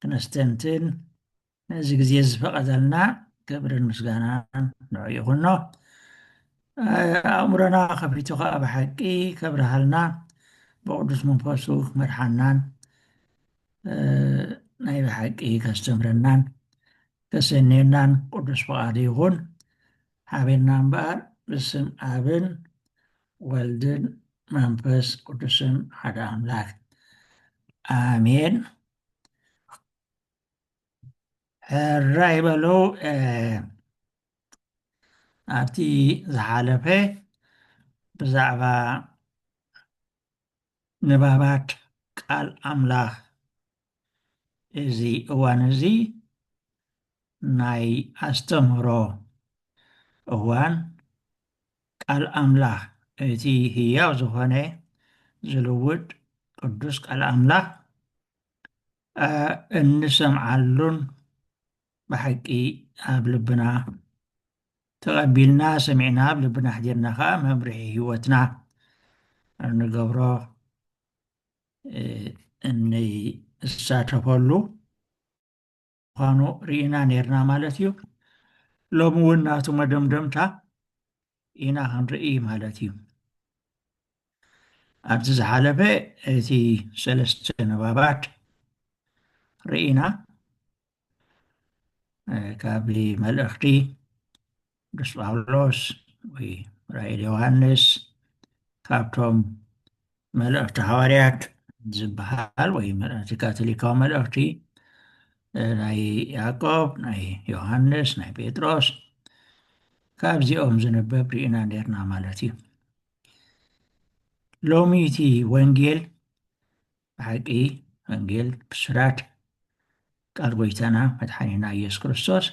ክነስተንትን ነዚ ግዜ ዝፈቐደልና ክብርን ምስጋናን ንዑ ይኹኖ ኣእምሮና ከፊቱ ከዓ ብሓቂ ከብርሃልና ብቅዱስ መንፈሱ ክመርሓናን ናይ ብሓቂ ከስተምረናን ከሰንየናን ቅዱስ ፍቓዱ ይኹን ሓቤና እምበኣር ብስም ኣብን ወልድን መንፈስ ቅዱስን ሓደ ኣምላክ ኣሜን ሕራይ በሎ ኣብቲ ዝሓለፈ ብዛዕባ ንባባት ቃል ኣምላኽ እዚ እዋን እዚ ናይ ኣስተምህሮ እዋን ቃል ኣምላኽ እቲ ህያው ዝኾነ ዝልውጥ ቅዱስ ቃል ኣምላኽ እንሰምዓሉን ብሓቂ ኣብ ልብና ተቐቢልና ሰሚዕና ኣብ ልብና ኣሕዲርና ከዓ መምርሒ ህይወትና እንገብሮ እንሳተፈሉ ምዃኑ ርኢና ኔርና ማለት እዩ። ሎሚ እውን ናቱ መደምደምታ ኢና ክንርኢ ማለት እዩ። ኣብዚ ዝሓለፈ እቲ ሰለስተ ንባባት ርኢና ካብ መልእኽቲ ቅዱስ ጳውሎስ ወይ ራእይ ዮሃንስ ካብቶም መልእኽቲ ሃዋርያት ዝበሃል ወይ መልእኽቲ ካቶሊካዊ መልእኽቲ ናይ ያዕቆብ ናይ ዮሃንስ ናይ ጴጥሮስ ካብዚኦም ዝንበብ ርኢና ነርና ማለት እዩ ሎሚ እቲ ወንጌል ብሓቂ ወንጌል ብስራት ቃል ጎይታና መድሓኒና ኢየሱስ ክርስቶስ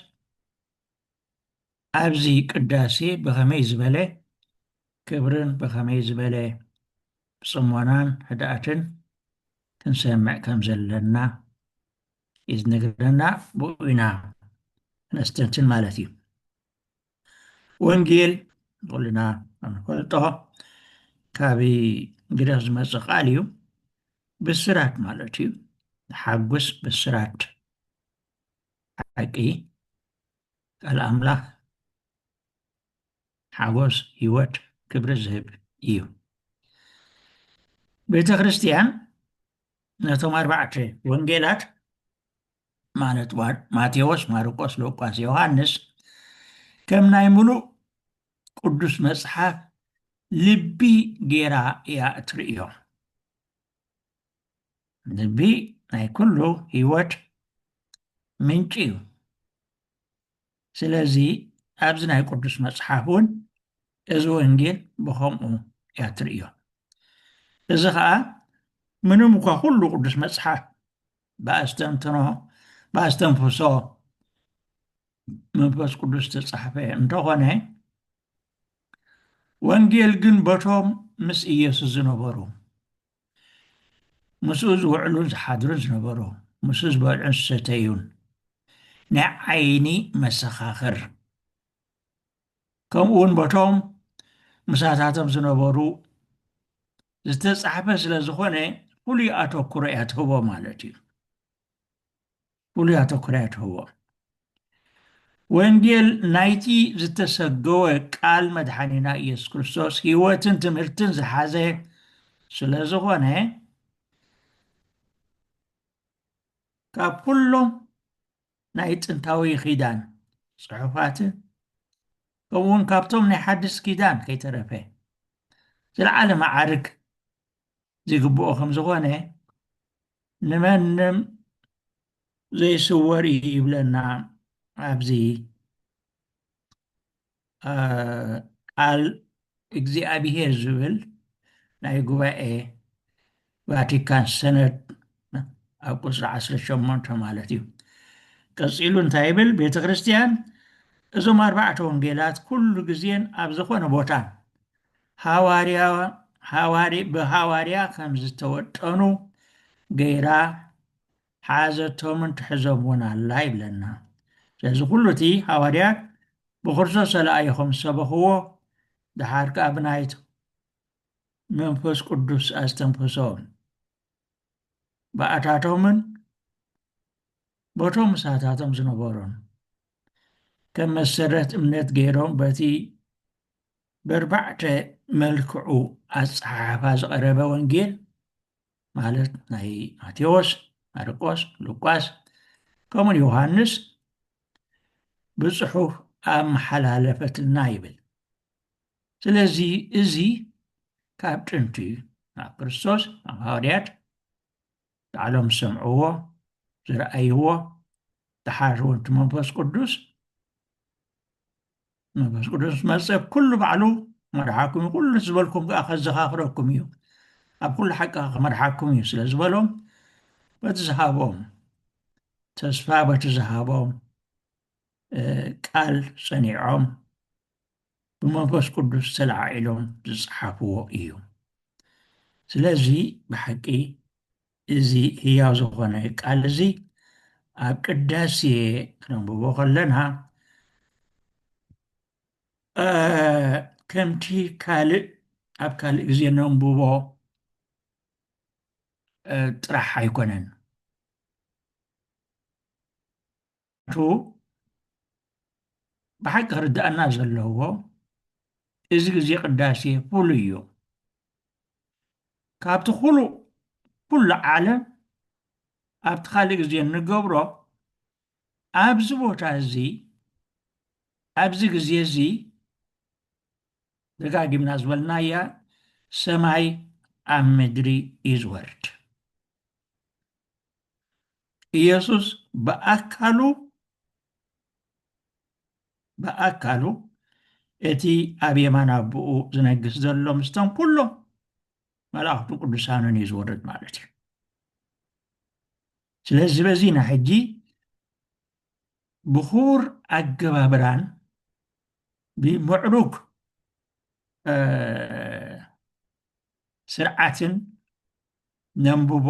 ኣብዚ ቅዳሴ ብኸመይ ዝበለ ክብርን ብኸመይ ዝበለ ጽሞናን ህድኣትን ክንሰምዕ ከም ዘለና እዩ ዝነግረና ብኡ ኢና ነስተንትን ማለት እዩ ወንጌል ኩልና ንፈልጦ ካብ ግሪኽ ዝመፀ ቃል እዩ ብስራት ማለት እዩ ሓጉስ ብስራት ሓቂ ቃል ኣምላኽ ሓጎስ ህይወት ክብሪ ዝህብ እዩ ቤተ ክርስቲያን ነቶም ኣርባዕተ ወንጌላት ማለት ማቴዎስ፣ ማርቆስ፣ ሉቃስ፣ ዮሃንስ ከም ናይ ምሉእ ቅዱስ መጽሓፍ ልቢ ጌራ እያ እትርእዮ። ልቢ ናይ ኩሉ ህይወት ምንጪ እዩ ስለዚ ኣብዚ ናይ ቅዱስ መፅሓፍ እውን እዚ ወንጌል ብከምኡ እያ ትርእዮ እዚ ከዓ ምንም እኳ ኩሉ ቅዱስ መፅሓፍ ብኣስተንትኖ ብኣስተንፍሶ መንፈስ ቅዱስ ዝተፃሕፈ እንተኾነ ወንጌል ግን በቶም ምስ ኢየሱስ ዝነበሩ ምስኡ ዝውዕሉ ዝሓድሩ ዝነበሩ፣ ምስኡ ዝበልዑን ዝሰተዩን ናይ ዓይኒ መሰኻኽር፣ ከምኡውን በቶም ምሳታቶም ዝነበሩ ዝተጻሕፈ ስለ ዝኾነ ፍሉይ ኣተኩሮ እያ ትህቦ ማለት እዩ። ፍሉይ ኣተኩሮ ኣይትህቦን። ወንጌል ናይቲ ዝተሰገወ ቃል መድሓኒና ኢየሱስ ክርስቶስ ሕይወትን ትምህርትን ዝሓዘ ስለ ዝኾነ ካብ ኩሎም ናይ ጥንታዊ ኪዳን ጽሑፋትን ከምኡውን ካብቶም ናይ ሓድስ ኪዳን ከይተረፈ ዝለዓለ መዓርግ ዝግብኦ ከም ዝኾነ ንመንም ዘይስወር እዩ ይብለና ኣብዚ ቃል እግዚኣብሄር ዝብል ናይ ጉባኤ ቫቲካን ሰነድ ኣብ ቁፅሪ 18 ማለት እዩ ቀፂሉ እንታይ ይብል ቤተ ክርስቲያን እዞም ኣርባዕተ ወንጌላት ኩሉ ግዜን ኣብ ዝኾነ ቦታን ብሃዋርያ ከም ዝተወጠኑ ገይራ ሓዘቶምን ትሕዞም እውን ኣላ ይብለና። ስለዚ ኩሉ እቲ ሃዋርያት ብክርስቶስ ተላኢኾም ዝሰበኽዎ ደሓር ከኣ ብናይ መንፈስ ቅዱስ ኣስተንፍሶ ብኣታቶምን በቶም ምሳታቶም ዝነበሩን ከም መሰረት እምነት ገይሮም በቲ በርባዕተ መልክዑ ኣጸሓሕፋ ዝቐረበ ወንጌል ማለት ናይ ማቴዎስ፣ ማርቆስ፣ ሉቃስ ከምኡን ዮሃንስ ብጽሑፍ ኣመሓላለፈትልና ይብል። ስለዚ እዚ ካብ ጥንቲ ናብ ክርስቶስ ናብ ሃዋርያት ባዕሎም ዝሰምዕዎ ዝረኣይዎ ደሓር እውን እቲ መንፈስ ቅዱስ መንፈስ ቅዱስ ምስ መፀ ኩሉ ባዕሉ መርሓኩም እዩ ኩሉ ዝበልኩም ከዓ ከዘኻኽረኩም እዩ ኣብ ኩሉ ሓቂ ክመርሓኩም እዩ ስለ ዝበሎም በቲ ዝሃቦም ተስፋ በቲ ዝሃቦም እ፣ ቃል ፀኒዖም ብመንፈስ ቅዱስ ተለዓዒሎም ዝጸሓፍዎ እዩ። ስለዚ ብሓቂ እዚ ህያው ዝኾነ ቃል እዚ ኣብ ቅዳሴ ክነንብቦ ከለና ከምቲ ካልእ ኣብ ካልእ ግዜ ነንብቦ ጥራሕ ኣይኮነን። ቱ ብሓቂ ክርድኣና ዘለዎ እዚ ግዜ ቅዳሴ ፍሉይ እዩ ካብቲ ኩሉ ኩሉ ዓለም ኣብቲ ካልእ ግዜ እንገብሮ ኣብዚ ቦታ እዚ ኣብዚ ግዜ እዚ ደጋጊምና ዝበልናያ ሰማይ ኣብ ምድሪ እዩ ዝወርድ ኢየሱስ ብኣካሉ ብኣካሉ እቲ ኣብ የማን ኣቦኡ ዝነግስ ዘሎ ምስቶም ኩሎም መላእኽቱ ቅዱሳንን እዩ ዝወርድ ማለት እዩ ስለዚ በዚ ና ሕጂ ብኽቡር ኣገባብራን ብምዕሩግ ስርዓትን ነንብቦ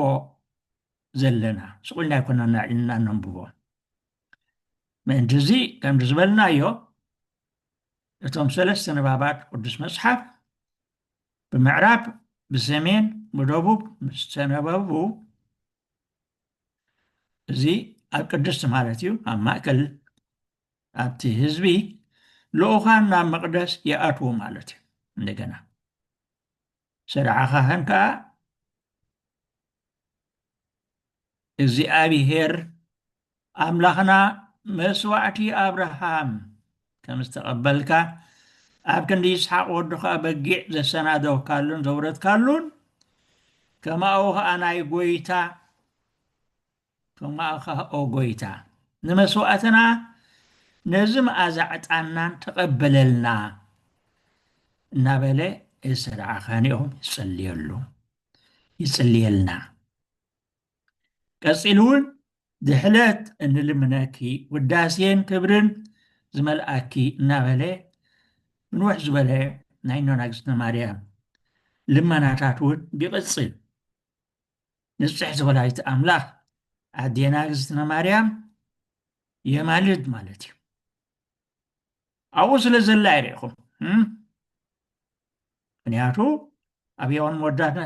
ዘለና ስቕ ኢልና ኣይኮናን ኣዕሊልና ነንብቦ ምእንቲ እዚ ከምዚ ዝበልናዮ እቶም ሰለስተ ንባባት ቅዱስ መጽሓፍ ብምዕራብ ብሰሜን ብደቡብ ምስ ተነበቡ እዚ ኣብ ቅድስቲ ማለት እዩ ኣብ ማእከል ኣብቲ ህዝቢ ልኡኻን ናብ መቕደስ ይኣትዉ ማለት እዩ እንደገና ሰደዓ ካህን ከዓ እግዚኣብሄር ኣምላኽና መስዋዕቲ ኣብርሃም ከም ዝተቐበልካ ኣብ ክንዲ ይስሓቅ ወድኻ በጊዕ ዘሰናደውካሉን ዘውረድካሉን ከማኡ ከዓ ናይ ጎይታ ተማእካ ኦ ጎይታ ንመስዋእትና ነዚ መኣዛ ዕጣንናን ተቀበለልና እናበለ እሰድዓ ካህኔኦም ይጽልየሉ ይጽልየልና ቀጺሉ እውን ድሕለት እንልምነኪ ውዳሴን ክብርን ዝመልኣኪ እናበለ ምንውሕ ዝበለ ናይ እኖና ግዝእትነ ማርያም ልመናታት እውን ይቕጽል ንጽሕቲ ወላዲት ኣምላኽ ኣዴና እግዝእትነ ማርያም የማልድ ማለት እዩ ኣብኡ ስለ ዘላ ይርኢኹም ምክንያቱ ኣብ የዋን መወዳእታ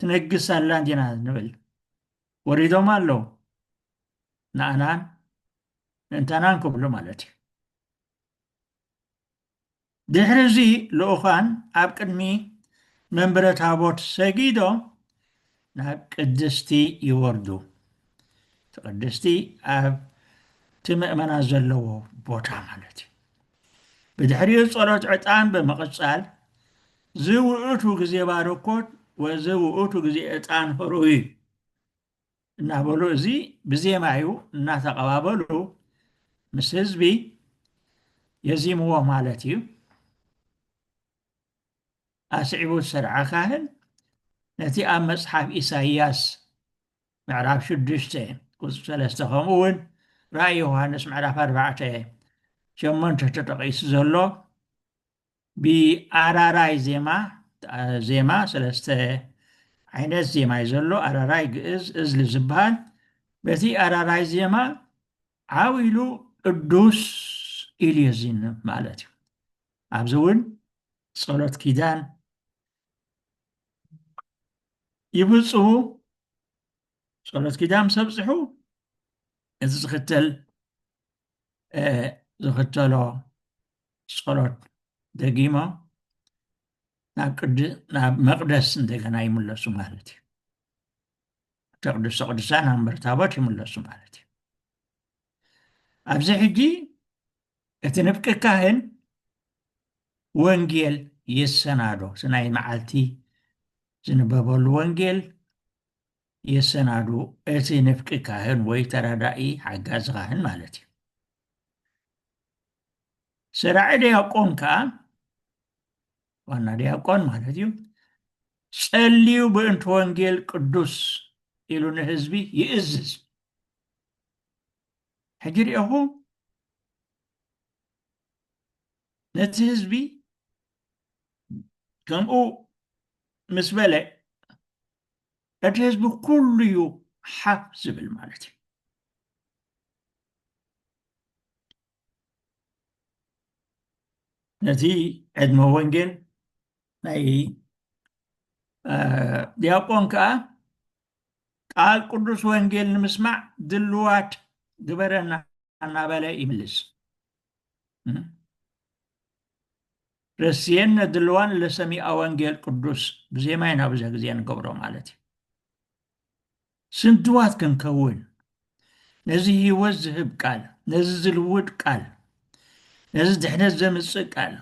ትነግስ ኣላ እንዲና ንብል ወሪዶም ኣለዉ ንኣናን ምእንታናን ክብሉ ማለት እዩ ድሕሪ እዚ ልኡካን ኣብ ቅድሚ መንበረ ታቦት ሰጊዶም ናብ ቅድስቲ ይወርዱ። እቲ ቅድስቲ ኣብ እቲ ምእመናት ዘለዎ ቦታ ማለት እዩ። ብድሕሪኡ ጸሎት ዕጣን ብምቕጻል ዝውእቱ ግዜ ባርኮት ወዝውእቱ ግዜ ዕጣን ህሩይ እናበሉ እዚ ብዜማ እዩ እናተቐባበሉ ምስ ህዝቢ የዚምዎ ማለት እዩ። ኣስዒቡ ሰርዐ ካህን ነቲ ኣብ መጽሓፍ ኢሳይያስ ምዕራፍ ሽዱሽተ ቁጽሪ ሰለስተ ከምኡውን ራእይ ዮሃንስ ምዕራፍ ኣርባዕተ ሸሞንተ ተጠቒሱ ዘሎ ብኣራራይ ዜማ ዜማ ሰለስተ ዓይነት ዜማ እዩ ዘሎ ኣራራይ ግእዝ እዝሊ ዝበሃል በቲ ኣራራይ ዜማ ዓው ኢሉ ቅዱስ ኢሉ የዚንም ማለት እዩ ኣብዚ እውን ጸሎት ኪዳን ይብፅሁ ጸሎት ኪዳን ምስ ኣብፅሑ እዚ ዝኽተል ዝኽተሎ ጸሎት ደጊሞም ናብ ቅድ ናብ መቅደስ እንደገና ይምለሱ ማለት እዩ እቲ ቅዱሰ ቅዱሳን ኣብ መንበር ታቦት ይምለሱ ማለት እዩ ኣብዚ ሕጂ እቲ ንፍቂ ካህን ወንጌል የሰናዶ እቲ ናይ መዓልቲ ዝንበበሉ ወንጌል የሰናዱ እቲ ንፍቂ ካህን ወይ ተረዳኢ ሓጋዚ ካህን ማለት እዩ ሰራዒ ዲያቆን ከዓ ዋና ዲያቆን ማለት እዩ ጸልዩ ብእንቲ ወንጌል ቅዱስ ኢሉ ንህዝቢ ይእዝዝ ሕጂ ሪኦኹ ነቲ ህዝቢ ከምኡ ምስ በለ እቲ ህዝቢ ኩሉ እዩ ሓፍ ዝብል ማለት እዩ ነቲ ዕድመ ወንጌል ናይ ዲያቆን ከዓ ቃል ቅዱስ ወንጌል ንምስማዕ ድልዋት ግበረና እናበለ ይምልስ ረስየነ ድልዋን ለሰሚኣ ወንጌል ቅዱስ ብዜማ ኢና ብዘ ግዜ ንገብሮ ማለት እዩ ስንትዋት ክንከውን ነዚ ህይወት ዝህብ ቃል፣ ነዚ ዝልውጥ ቃል፣ ነዚ ድሕነት ዘምጽእ ቃል፣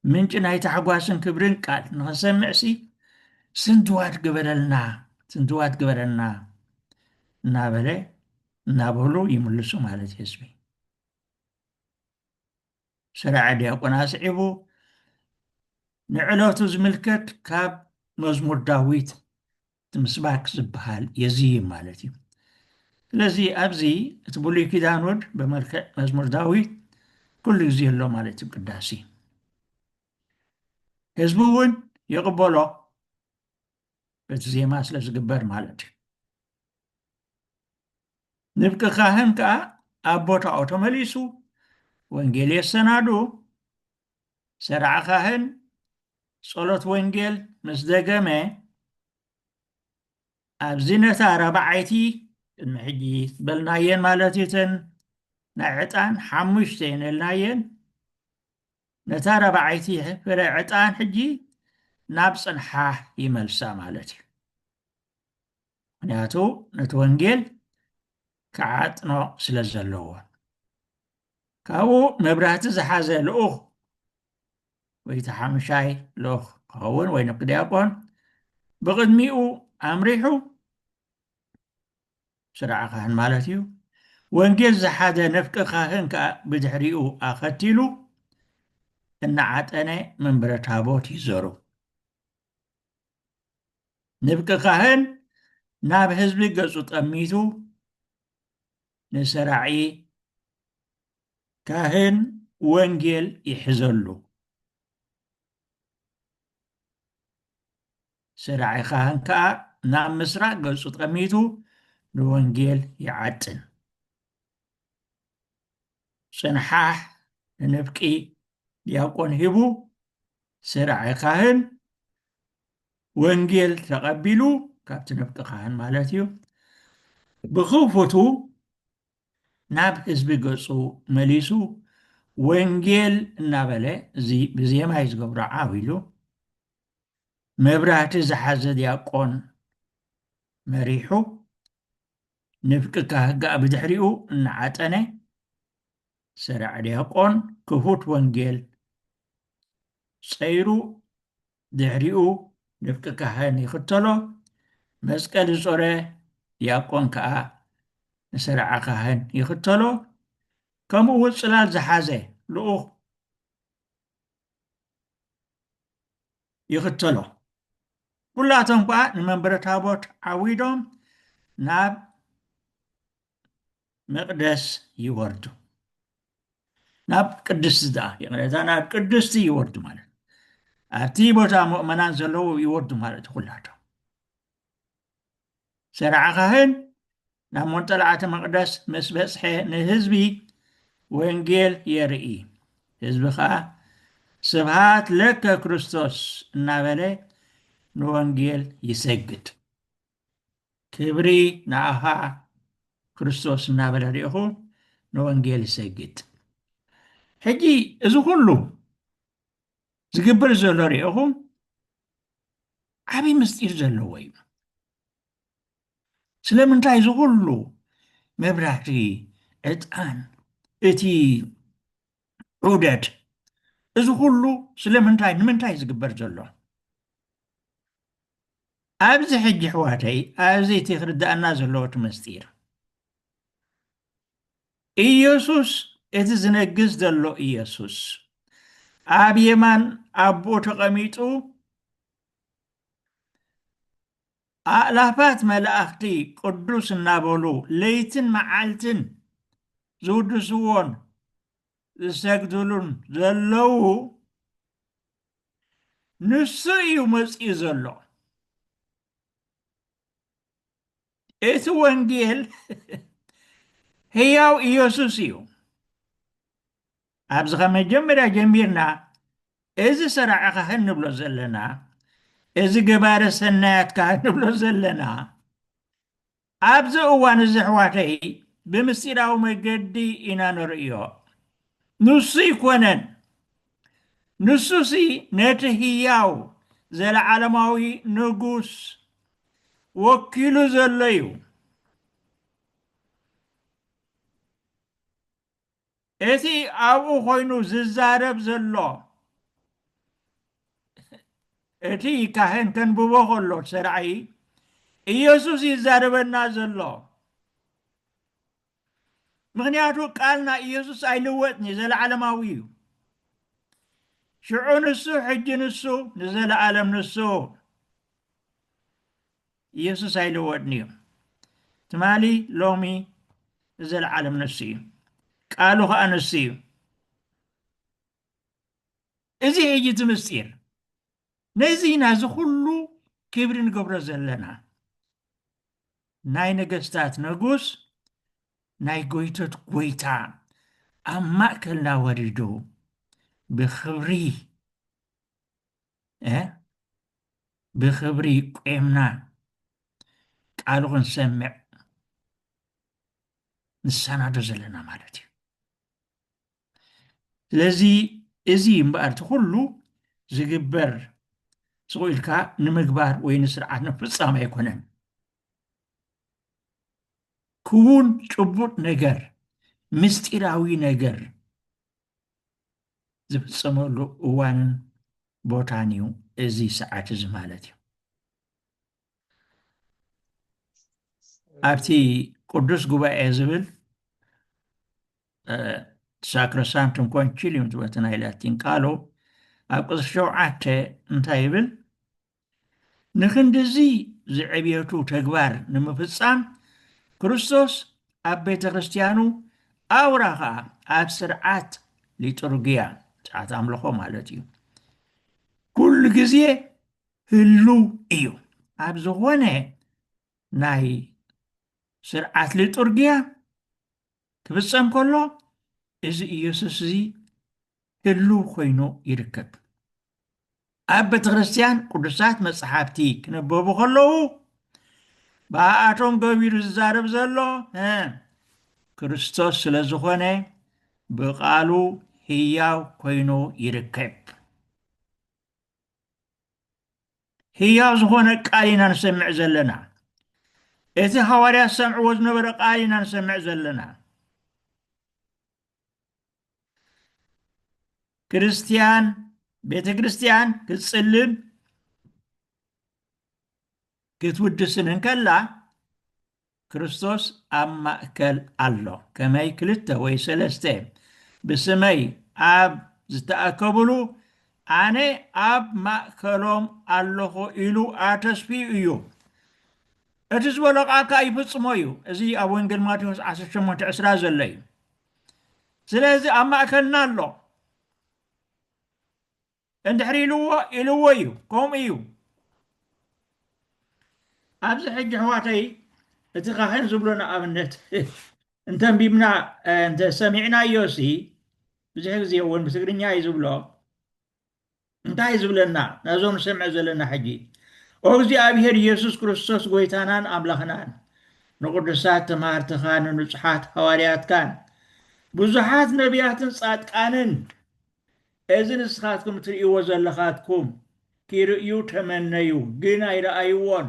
ምንጪ ናይ ታሕጓስን ክብርን ቃል ንኽንሰምዕሲ ስንትዋት ግበረልና፣ ስንትዋት ግበረልና እናበለ እናበሉ ይምልሱ ማለት እዩ ህዝቢ። ስራዐ ዲያቆን ኣስዒቡ ንዕለቱ ዝምልከት ካብ መዝሙር ዳዊት ምስባክ ዝበሃል የዝይም ማለት እዩ ስለዚ ኣብዚ እቲ ብሉይ ኪዳን ወድ ብመልክዕ መዝሙር ዳዊት ኩሉ ግዜ ኣሎ ማለት እዩ ቅዳሴ ህዝቢ እውን ይቕበሎ በቲ ዜማ ስለ ዝግበር ማለት እዩ ንፍቂ ካህን ከኣ ኣብ ቦታኡ ተመሊሱ ወንጌል የሰናዱ። ሠራዐ ካህን ጸሎት ወንጌል ምስ ደገመ ኣብዚ ነታ ራብዓይቲ ቅድሚ ሕጂ ዝበልናየን ማለት እዩ እተን ናይ ዕጣን ሓሙሽተ እየን እልናየን ነታ ራብዓይቲ ፍረ ዕጣን ሕጂ ናብ ጽንሓ ይመልሳ ማለት እዩ። ምክንያቱ ነቲ ወንጌል ክዓጥኖ ስለ ዘለዎ ካብኡ መብራህቲ ዝሓዘ ልኡኽ ወይ እቲ ሓምሻይ ልኡኽ ክኸውን ወይ ንክ ዲያቆን ብቕድሚኡ ኣምሪሑ ስርዓ ካህን ማለት እዩ ወንጌል ዝሓዘ ነፍቂ ካህን ከዓ ብድሕሪኡ ኣኸቲሉ እናዓጠነ መንበረ ታቦት ይዘሩ ንብቂ ካህን ናብ ህዝቢ ገጹ ጠሚቱ ንሰራዒ ካህን ወንጌል ይሕዘሉ። ሰራዒ ካህን ከዓ ናብ ምስራቅ ገጹ ጠሚቱ ንወንጌል ይዓጥን። ጽንሓሕ ንንፍቂ ዲያቆን ሂቡ ስርዐ ካህን ወንጌል ተቐቢሉ ካብቲ ንፍቂ ካህን ማለት እዩ ብኽፉቱ ናብ ህዝቢ ገጹ መሊሱ ወንጌል እናበለ እዚ ብዜማ እዩ ዝገብሮ ዓው ኢሉ መብራህቲ ዝሓዘ ዲያቆን መሪሑ ንፍቂ ካህጋእ ብድሕሪኡ እናዓጠነ ሰራዕ ዲያቆን ክፉት ወንጌል ጸይሩ ድሕሪኡ ንፍቂ ካህን ይኽተሎ መስቀል ዝጾረ ዲያቆን ከኣ ንሰራዓ ካህን ይኽተሎ ከምኡ እውን ጽላል ዝሓዘ ልኡኽ ይኽተሎ። ኩላቶም ከኣ ንመንበረ ታቦት ዓዊዶም ናብ መቅደስ ይወርዱ ናብ ቅድስቲ ደኣ ይቕሬታ ናብ ቅድስቲ ይወርዱ ማለት ኣብቲ ቦታ ምእመናን ዘለዎ ይወርዱ ማለት ኩላቶም ሰርዐ ኻህን ናብ ሞንጠልዓተ መቕደስ ምስ በጽሐ ንህዝቢ ወንጌል የርኢ። ህዝቢ ኸኣ ስብሃት ለከ ክርስቶስ እናበለ ንወንጌል ይሰግድ። ክብሪ ንኣኻ ክርስቶስ እናበለ ሪኢኹ ንወንጌል ይሰግድ። ሕጂ እዚ ኩሉ ዝግብር ዘሎ ሪኢኹ ዓብይ ምስጢር ዘለዎ እዩ ስለምንታይ እዚ ኩሉ መብራህቲ ዕጣን እቲ ዑደት እዚ ኩሉ ስለምንታይ ንምንታይ ዝግበር ዘሎ ኣብዚ ሕጂ ኣሕዋተይ ኣብዚ እቲ ክርድኣና ዘለዎ እቲ ምስጢር ኢየሱስ እቲ ዝነግስ ዘሎ ኢየሱስ ኣብ የማን ኣቦኡ ተቐሚጡ ኣእላፋት መላእኽቲ ቅዱስ እናበሉ ለይትን መዓልትን ዝውድስዎን ዝሰግድሉን ዘለዉ ንሱ እዩ መፅኡ ዘሎ። እቲ ወንጌል ህያው ኢየሱስ እዩ። ኣብዚ ካብ መጀመርያ ጀሚርና እዚ ሰራዒ ካህን ንብሎ ዘለና እዚ ገባረ ሰናያት ካህን ንብሎ ዘለና ኣብዚ እዋን እዚ ኣሕዋተይ ብምስጢራዊ መገዲ ኢና ንርእዮ ንሱ ይኮነን ንሱሲ ነቲ ህያው ዘለዓለማዊ ንጉስ ወኪሉ ዘሎ እዩ። እቲ ኣብኡ ኮይኑ ዝዛረብ ዘሎ እቲ ካህን ከንብቦ ከሎ ሰራዒ ኢየሱስ ይዛረበና ዘሎ ምኽንያቱ ቃል ናይ ኢየሱስ ኣይልወጥን እዩ ዘለዓለማዊ እዩ ሽዑ ንሱ ሕጂ ንሱ ንዘለዓለም ንሱ ኢየሱስ ኣይልወጥን እዩ ትማሊ ሎሚ ንዘለዓለም ንሱ እዩ ቃሉ ከዓ ንሱ እዩ እዚ እዩ እቲ ምስጢር ነዚ ኢና እዚ ኩሉ ክብሪ ንገብሮ ዘለና ናይ ነገስታት ነጉስ ናይ ጎይቶት ጎይታ ኣብ ማእከልና ወሪዱ ብክብሪ ብክብሪ ቁምና ቃሉ ክንሰምዕ ንሰናዶ ዘለና ማለት እዩ ስለዚ እዚ እምበኣር እቲ ኩሉ ዝግበር ስቕ ኢልካ ንምግባር ወይ ንስርዓት ንምፍፃም ኣይኮነን ክውን ጭቡጥ ነገር ምስጢራዊ ነገር ዝፍፀመሉ እዋንን ቦታን እዩ እዚ ሰዓት እዚ ማለት እዩ ኣብቲ ቅዱስ ጉባኤ ዝብል ሳክሮሳንቱም ኮንቺሊዩም ዝበቲ ናይ ላቲን ቃሉ ኣብ ቅጽሪ ሸውዓተ እንታይ ይብል ንክንዲዚ ዝዕብየቱ ተግባር ንምፍጻም ክርስቶስ ኣብ ቤተ ክርስትያኑ ኣውራ ከዓ ኣብ ስርዓት ሊጡርግያ ስርዓት ኣምልኾ ማለት እዩ ኩሉ ግዜ ህሉው እዩ። ኣብ ዝኾነ ናይ ስርዓት ሊጡርጊያ ክፍጸም ከሎ እዚ ኢየሱስ እዚ ህሉው ኮይኑ ይርከብ። ኣብ ቤተ ክርስቲያን ቅዱሳት መጽሓፍቲ ክነበቡ ከለዉ ብኣኣቶም ገቢሩ ዝዛረብ ዘሎ ክርስቶስ ስለ ዝኾነ ብቓሉ ህያው ኮይኑ ይርከብ። ህያው ዝኾነ ቃል ኢና ንሰምዕ ዘለና እቲ ሃዋርያ ዝሰምዕዎ ዝነበረ ቃል ኢና ንሰምዕ ዘለና ክርስትያን ቤተ ክርስትያን ክትጽልን ክትውድስን እንከላ ክርስቶስ ኣብ ማእከል ኣሎ፣ ከመይ ክልተ ወይ ሰለስተ ብስመይ ኣብ ዝተኣከቡሉ፣ ኣነ ኣብ ማእከሎም ኣሎኹ ኢሉ ኣተስፍዩ እዩ። እቲ ዝበሎ ቃል ከኣ ይፍጽሞ እዩ። እዚ ኣብ ወንጌል ማቴዎስ ዓሰርተ ሸሞንተ ዕስራ ዘሎ እዩ። ስለዚ ኣብ ማእከልና ኣሎ። እንድሕር ኢልዎ ኢልዎ እዩ ከምኡ እዩ። ኣብዚ ሕጂ ኣሕዋተይ እቲ ካህን ዝብሎ ንኣብነት እንተንቢብና እንተ ሰሚዕናዮሲ ብዙሕ ግዜ እውን ብትግርኛ እዩ ዝብሎ እንታይ ዝብለና ነዞም ንሰምዕ ዘለና ሕጂ ኦ እግዚኣብሄር ኢየሱስ ክርስቶስ ጎይታናን ኣምላኽናን ንቅዱሳት ተማሃርትኻ ንንጹሓት ሃዋርያትካን ብዙሓት ነቢያትን ጻድቃንን እዚ ንስኻትኩም ትርእይዎ ዘለኻትኩም ኪርእዩ ተመነዩ፣ ግን ኣይረኣይዎን።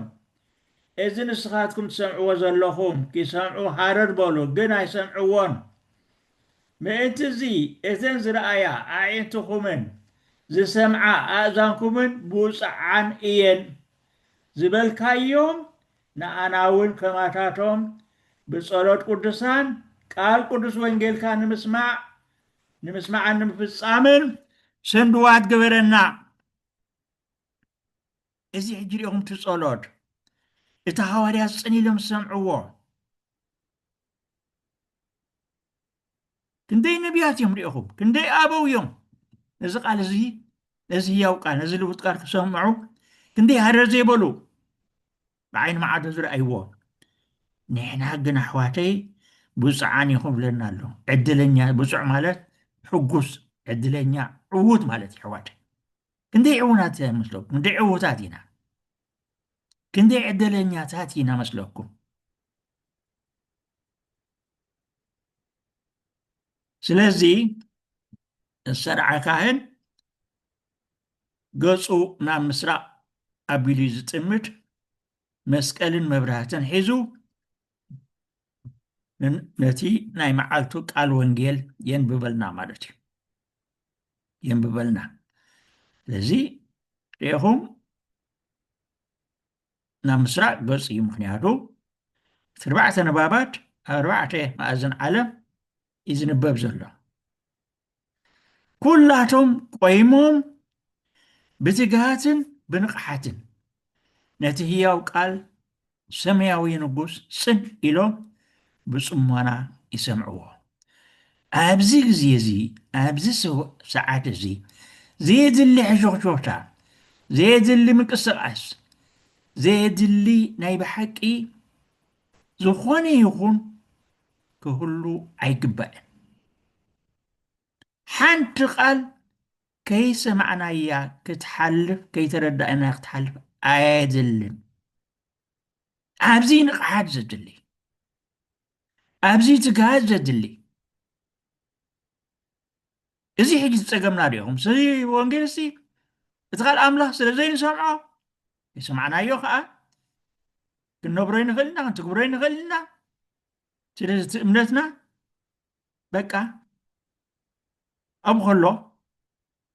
እዚ ንስኻትኩም ትሰምዕዎ ዘለኹም ኪሰምዑ ሃረር በሉ፣ ግን ኣይሰምዕዎን። ምእንት'ዚ እተን ዝረኣያ ኣዒንትኹምን ዝሰምዓ ኣእዛንኩምን ብጹዓን እየን። ዝበልካዮም ንኣና'ውን ከማታቶም ብጸሎት ቅዱሳን ቃል ቅዱስ ወንጌልካ ንምስማዕ ንምስማዕን ንምፍጻምን ሰንድዋት ግበረና። እዚ ሕጂ ርኢኹም እቲ ጸሎት እቲ ሃዋርያት ጽን ኢሎም ዝሰምዕዎ ክንደይ ነቢያት እዮም ርኢኹም፣ ክንደይ ኣበው እዮም ነዚ ቃል እዚ ነዚ ህያው ቃል ነዚ ልውጥ ቃል ክሰምዑ ክንደይ ሃረር ዘይበሉ ብዓይኒ መዓቱ ዝረኣይዎ ንሕና ግን ኣሕዋተይ ብፁዓን ኢኹም ብለና ኣሎ ዕድለኛ ብፁዕ ማለት ሕጉስ ዕድለኛ ዕዉት ማለት እዩ ኣሕዋተይ ክንደይ ዕውናት መስለኩም ክንደይ ዕዉታት ኢና ክንደይ ዕድለኛታት ኢና መስለኩም ስለዚ ዝተርዓ ካህን ገጹ ናብ ምስራቕ ኣቢሉ እዩ ዝጥምት። መስቀልን መብራህትን ሒዙ ነቲ ናይ መዓልቱ ቃል ወንጌል የንብበልና ማለት እዩ የንብበልና። ስለዚ ርኢኹም ናብ ምስራቅ ገጹ እዩ ምክንያቱ እቲ ኣርባዕተ ንባባት ኣብ ኣርባዕተ ማእዝን ዓለም እዩ ዝንበብ ዘሎ ኩላቶም ቆይሞም ብትግሃትን ብንቕሓትን ነቲ ህያው ቃል ሰማያዊ ንጉስ ጽን ኢሎም ብጽሞና ይሰምዕዎ። ኣብዚ ግዜ እዚ ኣብዚ ሰዓት እዚ ዘየድሊ ሕሾኽሾኽታ፣ ዘየድሊ ምንቅስቓስ፣ ዘየድሊ ናይ ብሓቂ ዝኾነ ይኹን ክህሉ ኣይግባእን። ሓንቲ ቃል ከይሰማዕናያ ክትሓልፍ ከይተረዳእናያ ክትሓልፍ ኣየድልን ኣብዚ ንቕሓት ዘድሊ ኣብዚ ትግሃት ዘድሊ እዚ ሕጂ ዝፀገምና ዲኹም ስለዚ ወንጌል ሲ እቲ ካልእ ኣምላኽ ስለ ዘይንሰምዖ ይሰማዕናዮ ከዓ ክንነብሮ ይንኽእል ኢና ክንትግብሮ ይንኽእል ኢና ስለዚ እቲ እምነትና በቃ ኣብ ከሎ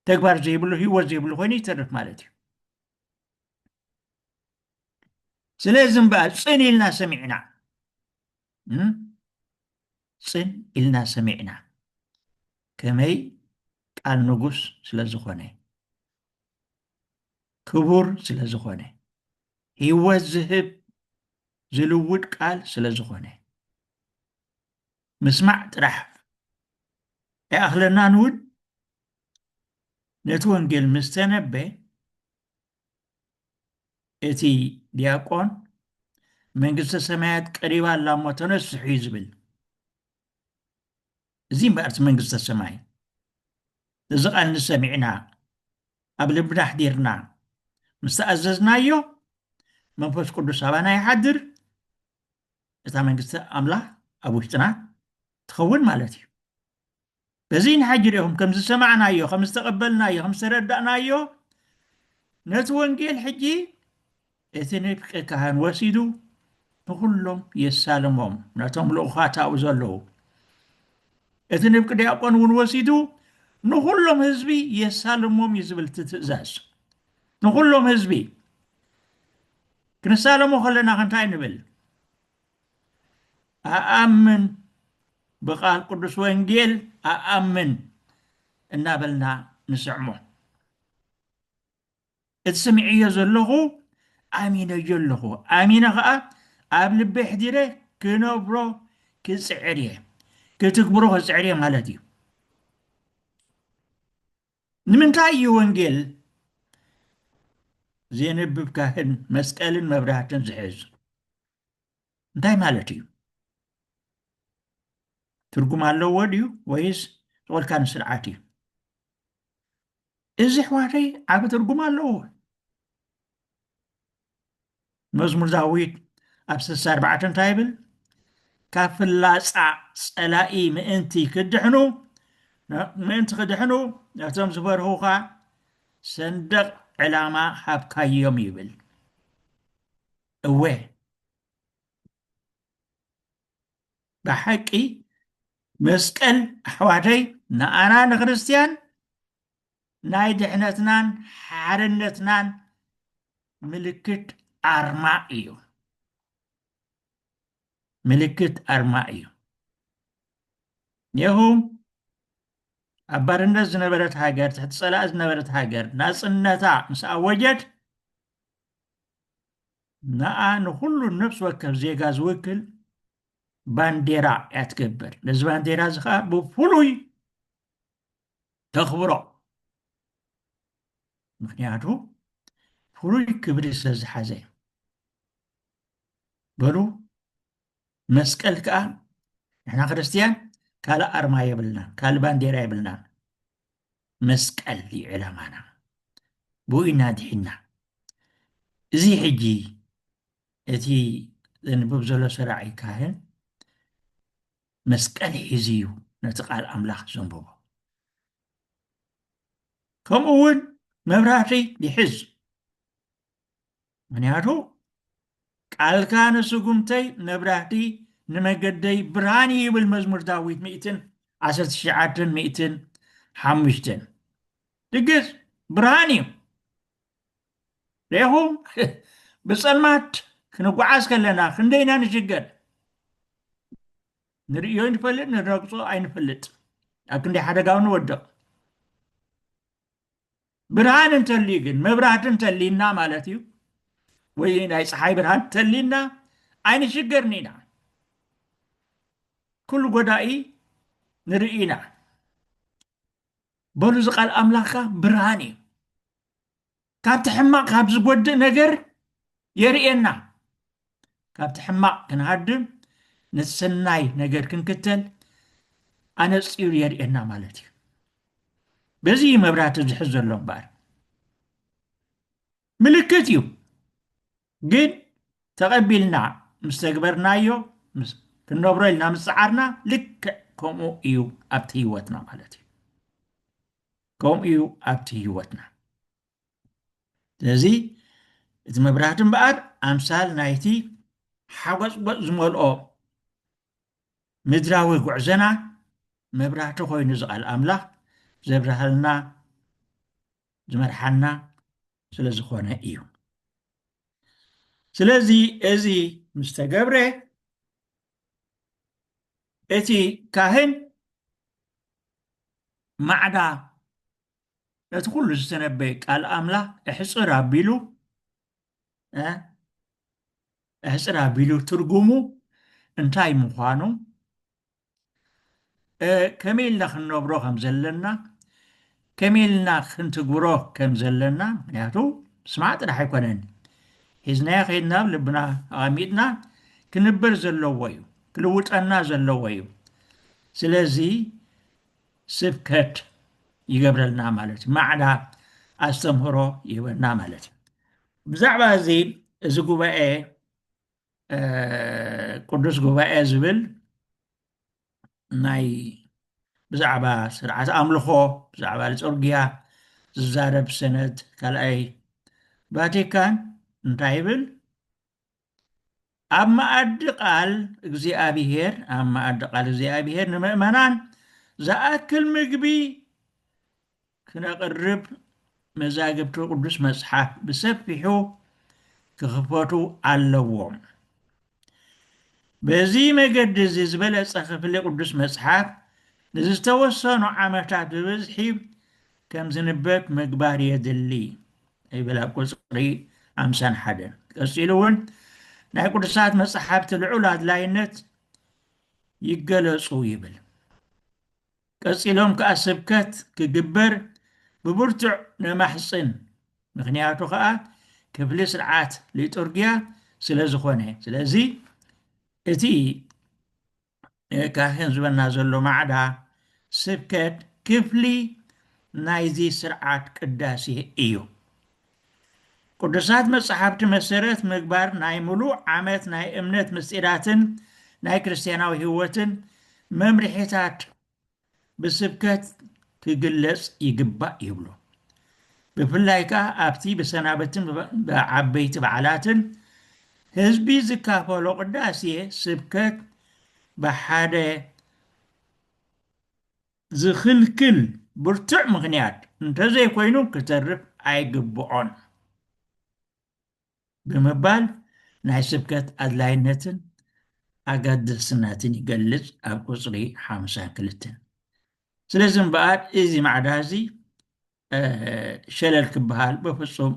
ተግባር ዘይብሉ ህይወት ዘይብሉ ኮይኑ ይተርፍ ማለት እዩ ስለዚ እምበኣር ፅን ኢልና ሰሚዕና ፅን ኢልና ሰሚዕና ከመይ ቃል ንጉስ ስለ ዝኾነ ክቡር ስለ ዝኾነ ህይወት ዝህብ ዝልውድ ቃል ስለ ዝኾነ ምስማዕ ጥራሕ ኣይኣኽለናን እውን ነቲ ወንጌል ምስ ተነበ እቲ ዲያቆን መንግስተ ሰማያት ቀሪባ ኣላ እሞ ተነስሑ እዩ ዝብል እዚ እምበኣር እቲ መንግስተ ሰማይ እዚ ቃል ንሰሚዕና ኣብ ልብና ኣሕዲርና ምስ ተኣዘዝናዮ መንፈስ ቅዱስ ኣባና ይሓድር እታ መንግስቲ ኣምላኽ ኣብ ውሽጥና ትኸውን ማለት እዩ በዚ ንሓጂ ሪኹም ከም ዝሰማዕናዮ ከም ዝተቐበልናዮ ከም ዝተረዳእናዮ ነቲ ወንጌል ሕጂ እቲ ንፍቂ ካህን ወሲዱ ንኩሎም የሳልሞም ነቶም ልኡኻት ኣብኡ ዘለዉ እቲ ንፍቂ ዲያቆን እውን ወሲዱ ንኩሎም ህዝቢ የሳልሞም እዩ ዝብል እቲ ትእዛዝ ንኩሎም ህዝቢ ክንሳለሞ ከለና ከንታይ ንብል ኣኣምን ብቃል ቅዱስ ወንጌል ኣኣምን እናበልና ንስዕሞ እቲ ስምዕዮ ዘለኹ ኣሚነዮ ኣለኹ ኣሚነ ከዓ ኣብ ልቢ ሕዲረ ክነብሮ ክፅዕር እየ ክትግብሮ ክፅዕር እየ ማለት እዩ ንምንታይ እዩ ወንጌል ዜንብብ ካህን መስቀልን መብራህትን ዝሕዝ እንታይ ማለት እዩ ትርጉም ኣለዎ ድዩ ወይስ ዝቆልካ ንስርዓት እዩ እዚ ኣሕዋተይ ዓብ ትርጉም ኣለዎ መዝሙር ዳዊት ኣብ ስሳ ኣርባዕተ እንታይ ይብል ካብ ፍላፃ ፀላኢ ምእንቲ ክድሕኑ ምእንቲ ክድሕኑ ነቶም ዝበርሁኻ ሰንደቕ ዕላማ ሃብካዮም ይብል እወ ብሓቂ መስቀል ኣሕዋተይ ንኣና ንክርስትያን ናይ ድሕነትናን ሓርነትናን ምልክት ኣርማ እዩ ምልክት ኣርማ እዩ ኔሁ ኣብ ባርነት ዝነበረት ሃገር ትሕቲ ፀላእ ዝነበረት ሃገር ናፅነታ ምስ ኣወጀት ንኣ ንኩሉ ነብሲ ወከፍ ዜጋ ዝውክል ባንዴራ እያ ትገብር ነዚ ባንዴራ እዚ ከዓ ብፍሉይ ተኽብሮ ምክንያቱ ፍሉይ ክብሪ ስለ ዝሓዘ እዩ በሉ መስቀል ከዓ ንሕና ክርስትያን ካልእ ኣርማ የብልናን ካልእ ባንዴራ የብልናን መስቀል እዩ ዕላማና ብኡ ኢና ድሒና እዚ ሕጂ እቲ ዘንብብ ዘሎ ሰራዒ ካህን መስቀል ሒዙ እዩ ነቲ ቃል ኣምላኽ ዘንበቦ። ከምኡ እውን መብራህቲ ይሕዝ። ምክንያቱ ቃልካ ንስጉምተይ መብራህቲ ንመገደይ ብርሃን እዩ ይብል መዝሙር ዳዊት ሚእትን ዓሰርተ ትሽዓተን ሚእትን ሓሙሽተን ድግስ ብርሃን እዩ ሬኹም ብፀልማት ክንጓዓዝ ከለና ክንደይ ኢና ንሽገር ንርእዮ ንፈልጥ ንረግፆ ኣይንፈልጥ ኣብ ክንደይ ሓደጋው ንወድቕ ብርሃን እንተልዩ ግን መብራህቲ እንተልዩና ማለት እዩ ወይ ናይ ፀሓይ ብርሃን እንተልዩና ኣይንሽገርን ኢና ኩሉ ጎዳኢ ንርኢ ኢና በሉ እዚ ቃል ኣምላኽካ ብርሃን እዩ ካብቲ ሕማቕ ካብ ዝጎድእ ነገር የርእየና ካብቲ ሕማቕ ክንሃድም ነቲ ሰናይ ነገር ክንክተል ኣነፂሩ የርእየና ማለት እዩ በዚ እዩ መብራህቲ ዝሕዝ ዘሎ እምበኣር ምልክት እዩ ግን ተቐቢልና ምስ ተግበርናዮ ክንነብሮ ኢልና ምስ ፀዓርና ልክዕ ከምኡ እዩ ኣብቲ ህይወትና ማለት እዩ ከምኡ እዩ ኣብቲ ህይወትና ስለዚ እቲ መብራህቲ እምበኣር ኣምሳል ናይቲ ሓጎፅጎፅ ዝመልኦ ምድራዊ ጉዕዘና መብራህቲ ኮይኑ ዝቓል ኣምላኽ ዘብርሃልና ዝመርሓና ስለ ዝኾነ እዩ ስለዚ እዚ ምስ ተገብረ እቲ ካህን ማዕዳ ነቲ ኩሉ ዝተነበየ ቃል ኣምላኽ እሕጽር ኣቢሉ እሕጽር ኣቢሉ ትርጉሙ እንታይ ምዃኑ ከመይ ኢልና ክንነብሮ ከም ዘለና ከመይ ኢልና ክንትግብሮ ከም ዘለና ምክንያቱ ስማዕ ጥራሕ ኣይኮነን ሒዝናዮ ከይድና ብ ልብና ኣቐሚጥና ክንበር ዘለዎ እዩ ክልውጠና ዘለዎ እዩ ስለዚ ስብከት ይገብረልና ማለት እዩ ማዕዳ ኣስተምህሮ ይህበና ማለት እዩ ብዛዕባ እዚ እዚ ጉባኤ ቅዱስ ጉባኤ ዝብል ናይ ብዛዕባ ስርዓት ኣምልኾ ብዛዕባ ልጦርጊያ ዝዛረብ ሰነድ ካልኣይ ቫቲካን እንታይ ይብል ኣብ መኣዲ ቃል እግዚኣብሄር ኣብ መኣዲ ቃል እግዚኣብሄር ንምእመናን ዝኣክል ምግቢ ክነቕርብ መዛግብቲ ቅዱስ መጽሓፍ ብሰፊሑ ክኽፈቱ ኣለዎም። በዚ መገዲ እዚ ዝበለጸ ክፍሊ ቅዱስ መጽሓፍ ንዝተወሰኑ ዓመታት ብብዝሒ ከም ዝንበብ ምግባር የድሊ ይብል ኣብ ቁጽሪ ሓምሳን ሓደን። ቀጺሉ እውን ናይ ቅዱሳት መጽሓፍቲ ልዑል ኣድላይነት ይገለጹ ይብል። ቀጺሎም ከኣ ስብከት ክግበር ብብርቱዕ ነማሕጽን፣ ምኽንያቱ ከኣ ክፍሊ ስርዓት ሊጡርጊያ ስለ ዝኾነ። ስለዚ እቲ ካህን ዝበና ዘሎ ማዕዳ ስብከት ክፍሊ ናይዚ ስርዓት ቅዳሴ እዩ። ቅዱሳት መጻሕፍቲ መሰረት ምግባር ናይ ምሉእ ዓመት ናይ እምነት ምስጢራትን ናይ ክርስትያናዊ ሕይወትን መምርሒታት ብስብከት ክግለጽ ይግባእ ይብሉ። ብፍላይ ከኣ ኣብቲ ብሰናበትን ብዓበይቲ በዓላትን ህዝቢ ዝካፈሎ ቅዳሴ ስብከት ብሓደ ዝኽልክል ብርቱዕ ምኽንያት እንተዘይኮይኑ ክተርፍ ኣይግብኦን ብምባል ናይ ስብከት ኣድላይነትን ኣገደስነትን ይገልጽ ኣብ ቁጽሪ ሓምሳ ክልተ። ስለዚ እምበኣር እዚ ማዕዳ እዚ ሸለል ክበሃል በፍጹም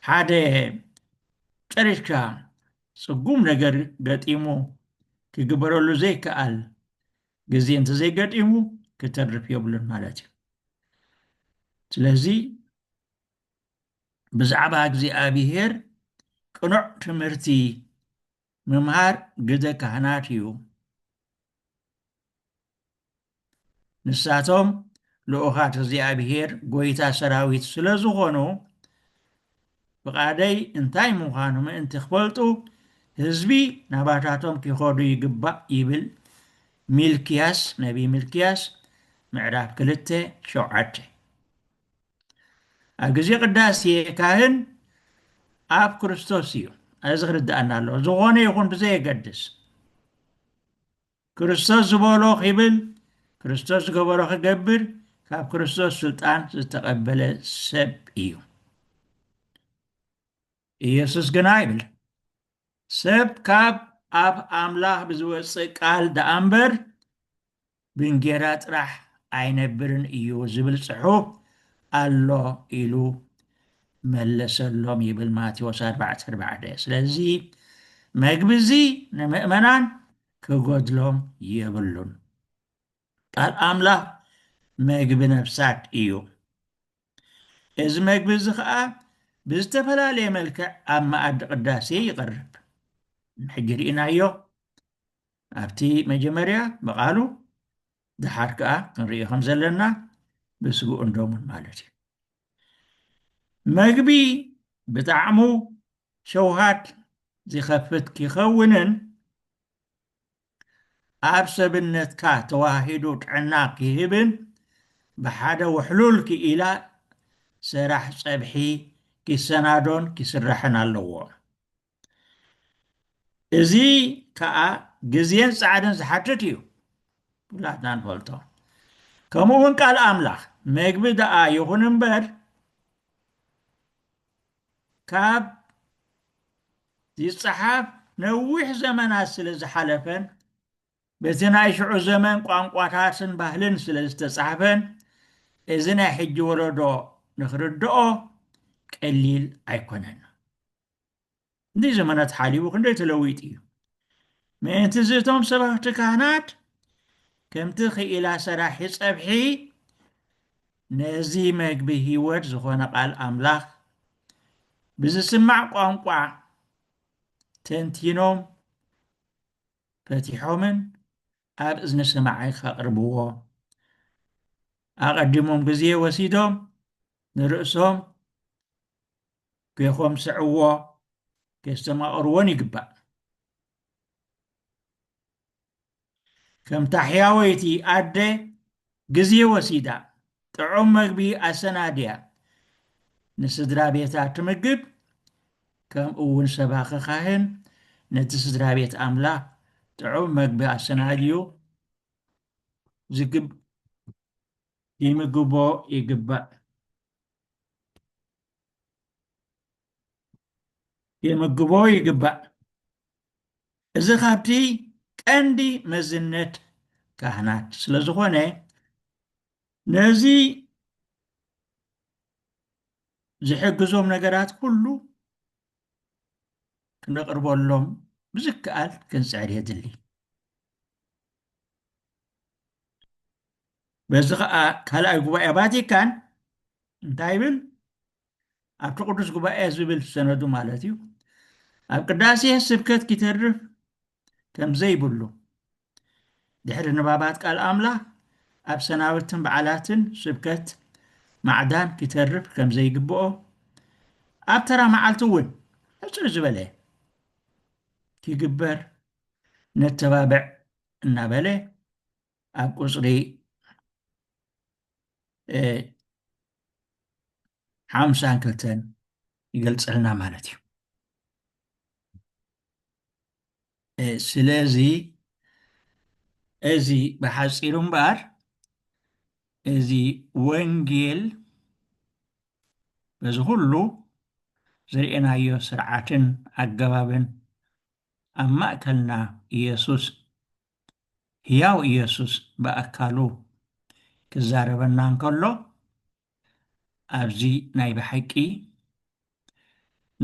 ሓደ ጨሪሽካ ጽጉም ነገር ገጢሙ ክግበረሉ ዘይከኣል ግዜ እንተዘይገጢሙ ክተርፍ የብሉን ማለት እዩ ስለዚ ብዛዕባ እግዚኣብሄር ቅኑዕ ትምህርቲ ምምሃር ግደ ካህናት እዩ። ንሳቶም ልኡኻት እግዚኣብሔር ጎይታ ሰራዊት ስለ ዝኾኑ ፍቓደይ እንታይ ምዃኑ ምእንቲ ክፈልጡ ህዝቢ ናባታቶም ኪኸዱ ይግባእ ይብል ሚልክያስ ነቢይ ሚልክያስ ምዕራፍ ክልተ ሸውዓተ ኣብ ግዜ ቅዳሴ ካህን ኣብ ክርስቶስ እዩ እዚ ክርድኣና ኣለዎ ዝኾነ ይኹን ብዘየገድስ ክርስቶስ ዝበሎ ክብል ክርስቶስ ዝገበሮ ክገብር ካብ ክርስቶስ ስልጣን ዝተቐበለ ሰብ እዩ ኢየሱስ ግና ይብል ሰብ ካብ ኣብ ኣምላኽ ብዝወፅእ ቃል ደኣ እምበር ብእንጌራ ጥራሕ ኣይነብርን እዩ ዝብል ጽሑፍ ኣሎ ኢሉ መለሰሎም ይብል ማቴዎስ ኣርባዕተ ኣርባዕተ። ስለዚ መግቢ እዚ ንምእመናን ክጎድሎም የብሉን። ቃል ኣምላኽ መግቢ ነፍሳት እዩ። እዚ መግቢ እዚ ኸኣ ብዝተፈላለየ መልክዕ ኣብ መኣዲ ቅዳሴ ይቐርብ። ሕጂ ርኢናዮ ኣብቲ መጀመርያ ብቓሉ ደሓር ከኣ ክንርኢ ከም ዘለና ብስግኡን ደሙን ማለት እዩ መግቢ ብጣዕሙ ሸውሃት ዚኸፍት ኪኸውንን ኣብ ሰብነትካ ተዋሂዱ ጥዕና ኪህብን ብሓደ ውሕሉል ክኢላ ሰራሕ ጸብሒ ኪሰናዶን ኪስራሕን ኣለዎ። እዚ ከዓ ግዜን ጻዕርን ዝሓትት እዩ ኩላትና ንፈልጦ ከምኡ እውን ቃል ኣምላኽ መግቢ ደኣ ይኹን እምበር ካብ ዝፀሓፍ ነዊሕ ዘመናት ስለ ዝሓለፈን በቲ ናይ ሽዑ ዘመን ቋንቋታትን ባህልን ስለ ዝተፃሕፈን እዚ ናይ ሕጂ ወለዶ ንክርድኦ ቀሊል ኣይኮነን ክንደይ ዘመናት ሓሊቡ ክንደይ ተለዊጡ እዩ ምእንቲ እዚ እቶም ሰባኽቲ ካህናት ከምቲ ክኢላ ሰራሒ ጸብሒ ነዚ መግቢ ህይወት ዝኾነ ቃል ኣምላኽ ብዝስማዕ ቋንቋ ተንቲኖም ፈቲሖምን ኣብ እዝኒ ሰማዓይ ከቕርብዎ ኣቐዲሞም ግዜ ወሲዶም ንርእሶም ኬኾምስዕዎ፣ ኬስተማቕርዎን ይግባእ። ከምታ ሕያወይቲ ኣደ ግዜ ወሲዳ ጥዑም መግቢ ኣሰናድያ ንስድራ ቤታ ትምግብ፣ ከምኡውን ሰባኺ ኻህን ነቲ ስድራ ቤት ኣምላኽ ጥዑም መግቢ ኣሰናድዩ ይምግቦ ይግባእ። የምግቦ ይግባእ። እዚ ካብቲ ቀንዲ መዝነት ካህናት ስለ ዝኾነ ነዚ ዝሕግዞም ነገራት ኩሉ ክነቕርበሎም ብዝከኣል ክንፅዕር የድሊ። በዚ ኸኣ ካልኣይ ጉባኤ ቫቲካን እንታይ ይብል? ኣብቲ ቅዱስ ጉባኤ ዝብል ሰነዱ ማለት እዩ ኣብ ቅዳሴ ስብከት ኪተርፍ ከም ዘይብሉ ድሕሪ ንባባት ቃል ኣምላኽ ኣብ ሰናብትን በዓላትን ስብከት ማዕዳን ኪተርፍ ከም ዘይግብኦ ኣብ ተራ መዓልቲ እውን ሕፅር ዝበለ ኪግበር ነተባብዕ እናበለ ኣብ ቁፅሪ ሓምሳን ክልተን ይገልፀልና ማለት እዩ ስለዚ እዚ ብሓፂሩ እምበኣር እዚ ወንጌል በዚ ኩሉ ዝርኤናዮ ስርዓትን ኣገባብን ኣብ ማእከልና ኢየሱስ ህያው ኢየሱስ ብኣካሉ ክዛረበና እንከሎ ኣብዚ ናይ ብሓቂ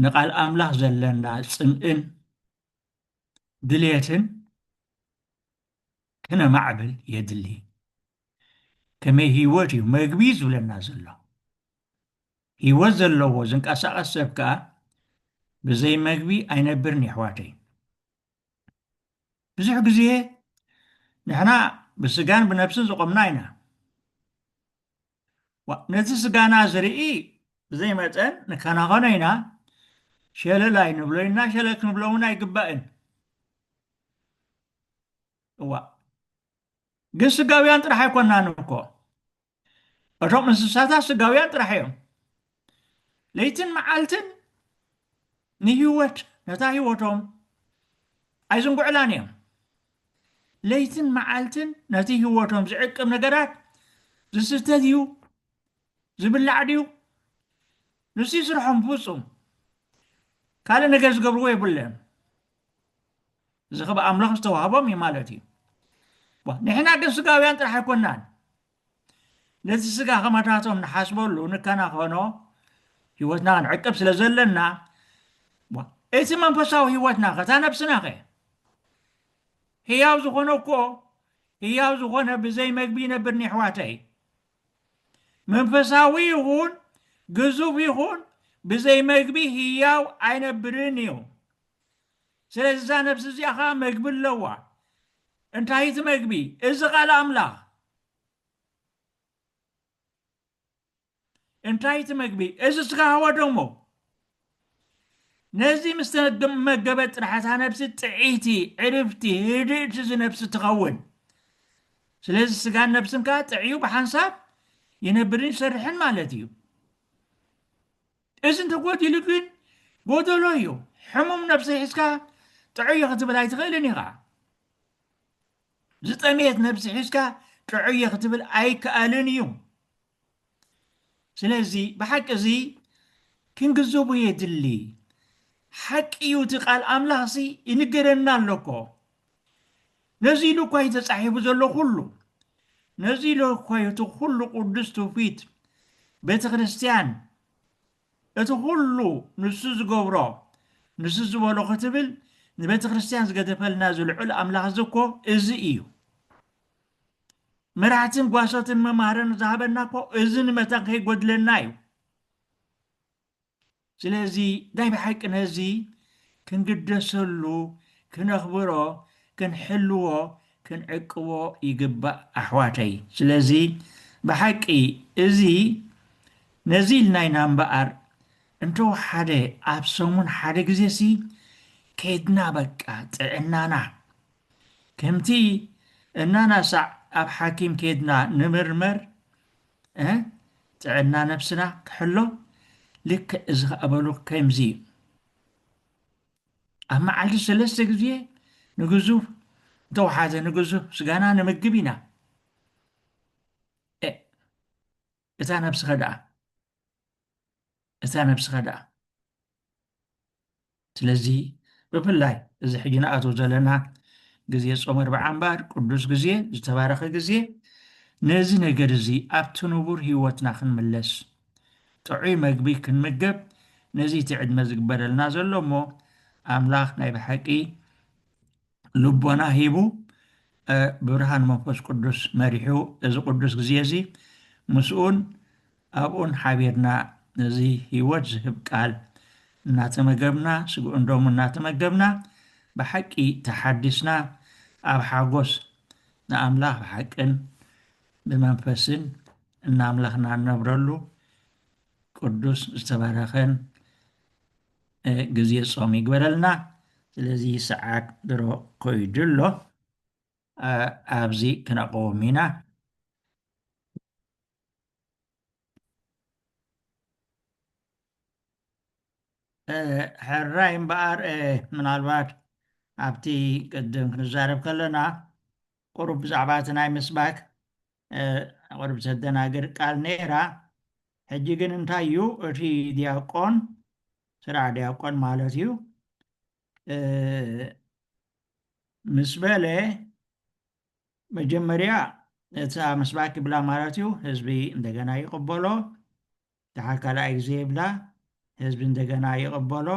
ንቓል ኣምላኽ ዘለና ጽምእን ድልየትን ክነማዕብል የድሊ። ከመይ ህይወት እዩ መግቢ ዝብለና ዘሎ። ህይወት ዘለዎ ዝንቀሳቐስ ሰብ ከኣ ብዘይ መግቢ ኣይነብርን የሕዋተይ። ብዙሕ ግዜ ንሕና ብስጋን ብነብስን ዝቖምና ኢና። ነቲ ስጋና ዝርኢ ብዘይ መጠን ንከናኸኖ ኢና፣ ሸለል ኣይንብሎ ኢና፣ ሸለል ክንብሎ እውን ኣይግባእን። እዋ ግን ስጋውያን ጥራሕ ኣይኮናን እኮ እቶም እንስሳታት ስጋውያን ጥራሕ እዮም ለይትን መዓልትን ንህይወት ነታ ህይወቶም ኣይዝንጉዕላን እዮም ለይትን መዓልትን ነቲ ህይወቶም ዝዕቅብ ነገራት ዝስተ ድዩ ዝብላዕ ድዩ ንሱ ስርሖም ፍፁም ካልእ ነገር ዝገብርዎ የብለን እዚ ከብ ኣምላኽ ዝተዋህቦም እዩ ማለት እዩ ንሕና ግን ስጋውያን ጥራሕ ኣይኮናን ነዚ ስጋ ከማታቶም ንሓስበሉ ንከናኸኖ ህይወትና ክንዕቅብ ስለ ዘለና እቲ መንፈሳዊ ህይወትና ከታ ነብስና ኸ ህያው ዝኾነ እኮ ህያው ዝኾነ ብዘይ መግቢ ይነብር ኒሕዋተይ መንፈሳዊ ይኹን ግዙፍ ይኹን ብዘይ መግቢ ህያው ኣይነብርን እዩ ስለዚ እዛ ነፍሲ እዚኣ ኸኣ መግቢ ኣለዋ። እንታይ እዩ እቲ መግቢ? እዚ ቓል ኣምላኽ። እንታይ እዩ እቲ መግቢ? እዚ ስጋኻ ወደሞ። ነዚ ምስ ተመገበት ጥራሕ እታ ነፍሲ ጥዕይቲ፣ ዕርፍቲ፣ ህድእቲ እዚ ነፍሲ ትኸውን። ስለዚ ስጋን ነፍስን ከኣ ጥዕዩ ብሓንሳብ ይነብርን ይሰርሕን ማለት እዩ። እዚ እንተጎዲሉ ግን ጎደሎ እዩ። ሕሙም ነብሲ ሒዝካ ጥዑየ ክትብል ኣይትኽእልን ኢኻ። ዝጠመየት ነብሲ ሒዝካ ጥዑየ ክትብል ኣይከኣልን እዩ። ስለዚ ብሓቂ እዚ ክንግዘቡ የድሊ። ሓቂ እዩ እቲ ቃል ኣምላኽሲ ይንገረና ኣሎኮ ነዚ ኢሉ እኳ እዩ ተጻሒፉ ዘሎ ኩሉ ነዚ ኢሉ እኳ እዩ እቲ ኩሉ ቅዱስ ትውፊት ቤተ ክርስቲያን እቲ ኩሉ ንሱ ዝገብሮ ንሱ ዝበሎ ክትብል ንቤተ ክርስቲያን ዝገደፈልና ዝልዑል ኣምላኽ እዚ እኮ እዚ እዩ መራሕትን ጓሶትን መማህረን ዝሃበና እኮ እዚ ንመታን ከይጎድለና እዩ ስለዚ ናይ ብሓቂ ነዚ ክንግደሰሉ፣ ክነኽብሮ፣ ክንሕልዎ፣ ክንዕቅቦ ይግባእ ኣሕዋተይ። ስለዚ ብሓቂ እዚ ነዚ ኢልና ኢና እምበኣር እንተወሓደ ኣብ ሰሙን ሓደ ግዜሲ ከይድና በቃ ጥዕናና ከምቲ እናናሳዕ ኣብ ሓኪም ከይድና ንምርመር እህ ጥዕና ነብስና ክሕሎ ልክዕ እዚ ከኣ በሉ ከምዚ እዩ ኣብ መዓልቲ ሰለስተ ግዜ ንግዙፍ እንተወሓዘ ንግዙፍ ስጋና ንምግብ ኢና እታ ነብስኸ ደኣ እታ ነብስኸ ደኣ ስለዚ ብፍላይ እዚ ሕጂ ንኣትዎ ዘለና ግዜ ጾም ኣርብዓ እምበኣር ቅዱስ ግዜ ዝተባረኸ ግዜ ነዚ ነገር እዚ ኣብቲ ንቡር ህይወትና ክንምለስ ጥዑይ መግቢ ክንምገብ ነዚ እቲ ዕድመ ዝግበረልና ዘሎ እሞ ኣምላኽ ናይ ብሓቂ ልቦና ሂቡ ብብርሃን መንፈስ ቅዱስ መሪሑ እዚ ቅዱስ ግዜ እዚ ምስኡን ኣብኡን ሓቢርና እዚ ህይወት ዝህብ ቃል እናተመገብና ስግኡን ደሙን እናተመገብና ብሓቂ ተሓዲስና ኣብ ሓጎስ ንኣምላኽ ብሓቅን ብመንፈስን እናምለኽና ንነብረሉ ቅዱስ ዝተባረኸን ግዜ ጾም ይግበረልና ስለዚ ሰዓት ድሮ ኮይዱ ኣሎ ኣብዚ ክነቆም ኢና ሕራይ እምበኣር ምናልባት ኣብቲ ቅድም ክንዛረብ ከለና ቁሩብ ብዛዕባ እቲ ናይ ምስባክ ቁሩብ ዘደናግር ቃል ነይራ ሕጂ ግን እንታይ እዩ እቲ ድያቆን ስራሕ ድያቆን ማለት እዩ ምስ በለ መጀመርያ እታ ምስባክ ይብላ ማለት እዩ ህዝቢ እንደገና ይቕበሎ ድሓር ካልኣይ ግዜ ይብላ ህዝቢ እንደገና ይቕበሎ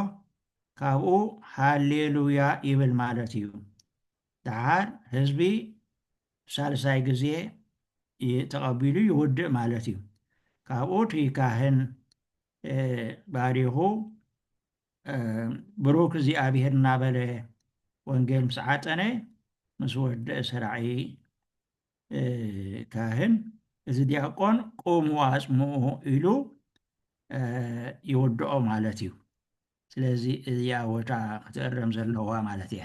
ካብኡ ሃሌሉያ ይብል ማለት እዩ ደሓር ህዝቢ ሳልሳይ ግዜ ተቐቢሉ ይውድእ ማለት እዩ። ካብኡ እቲ ካህን ባሪኹ ብሩክ እግዚኣብሔር እናበለ ወንጌል ምስ ዓጠነ ምስ ወደእ ሰራዒ ካህን እዚ ዲያቆን ቁሙ ኣጽምኡ ኢሉ ይውድኦ ማለት እዩ። ስለዚ እዚኣ ወታ ክትእረም ዘለዋ ማለት እያ።